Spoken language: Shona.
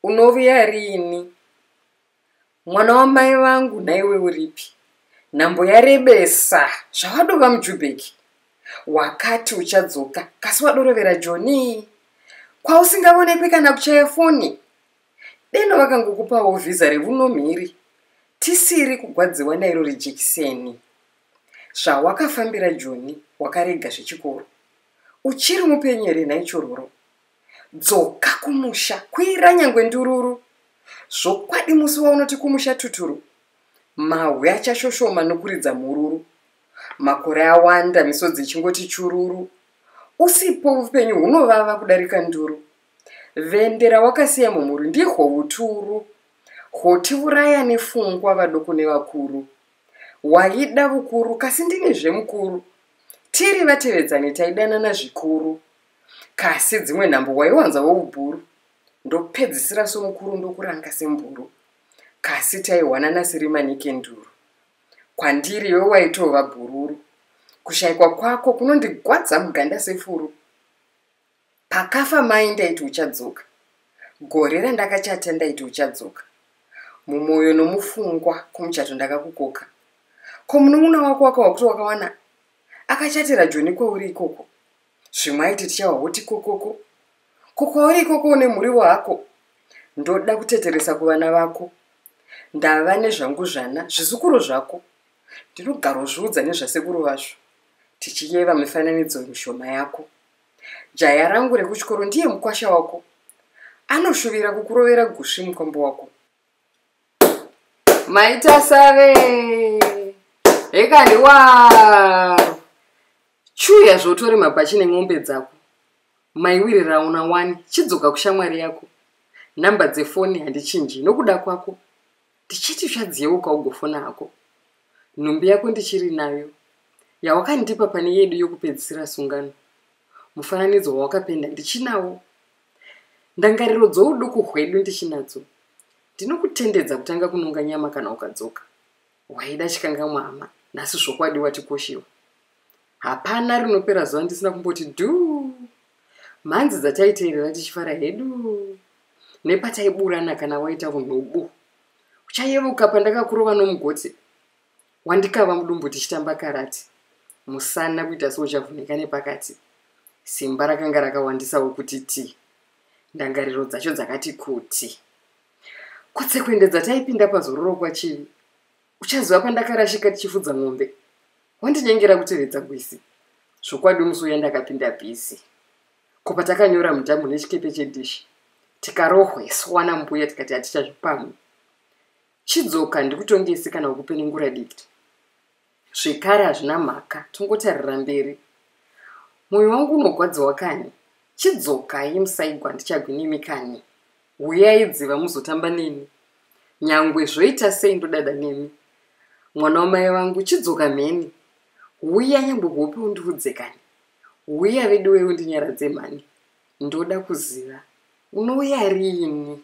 Unovuya riini? Mwana wamai vangu nhaiwe uripi? Nhambo yarebesa zvawadova mujubheki. Wakati uchadzoka kasi wadorovera Joni kwausingavonekwi kana kuchaya foni. Deno vakangokupawo vhiza revuno mhiri tisiri kugwadziwa nairo rejekiseni. Zvawakafambira Joni wakarega zvechikoro. Uchiri mupenyu here nhai chororo? dzoka kumusha kwira nyangwe ndururu zvokwadi musi waunoti kumusha tuturu mahwe achashoshoma nokuridza mhururu makore awanda misodzi ichingoti chururu usipo upenyu hunovava kudarika nduru vendera wakasiya mumhuri ndihwo uturu hwotivuraya nefungwa vadoko nevakuru waida vukuru kasi ndini zvemukuru tiri vatevedzani taidanana zvikuru kasi dzimwe nhambo waiwanza woubhuru ndopedzisira somukuru ndokuranga semburu kasi taiwanana sirimanikenduru kwandiri iwe waitova bhururu kushaikwa kwako kunondigwadza muganda sefuru pakafa mai ndaiti uchadzoka gore randakachata ndaiti uchadzoka mumwoyo nomufungwa kumuchato ndakakukoka ko munun'una wako wakawa kuti wakawana akachatira joni kweuri ikoko zvimwe aiti tichawa hoti kokoko ko kwauri ikoko une muriwo hako ndoda kuteteresa kuvana vako ndava nezvangu zvana zvizukuru zvako ndinogarozviudza nezvasekuru vazvo tichiyeva mifananidzo mishoma yako jaya rangu rekuchikoro ndiye mukwasha wako anoshuvira kukurovera gusvi mukombo wako maita save hekani waro chuya zvotori mabhachi nen'ombe dzako maiwiri rauna wani chidzoka kushamwari yako nhamba dzefoni handichinji nokuda kwako tichiti zvadziyeuka ugofona hako nhumbi yako ndichiri nayo yawakandipa pane yedu yokupedzisira sungano mufananidzo wawakapenda ndichinawo ndangariro dzouduku hwedu ndichinadzo ndinokutendedza kutanga kunonga nyama kana ukadzoka waida chikangamwa hama nhasi zvokwadi watikoshiwa hapana rinopera zuva ndisina kumboti duu mhanzi dzataiteerera tichifara hedu nepataiburana kana waita unhu ubu uchayevuka pandakakurova nomugoti wandikava mudumbu tichitamba karati musana kuita seuchavhuneka nepakati simba rakanga rakawandisawo kuti ti ndangariro dzacho dzakati kuti kutsekwende dzataipinda pazororo kwachivi uchaziva pandakarashika tichifudza mombe wandinyengera kutevedza gwisi zvokwadi musi uya ndakapinda bhizi ko patakanyora mudhamhu nechikepe chedishi tikarohweswa nambuya tikati hatichazvipamwe chidzoka ndikutongese kana ukupenengura dikita zvekare hazvina mhaka tongotarira mberi mwoyo wangu unogwadziwa kani chidzoka ye musaigwa ndichagwinemi kani huyai dziva muzotamba neni nyangwe zvoita sei ndodada nemi mwana wamai vangu chidzoka mheni huya nyangwe kuhope undiudze kani huya vedu wei undinyaradze mhani ndoda kuziva unouya riini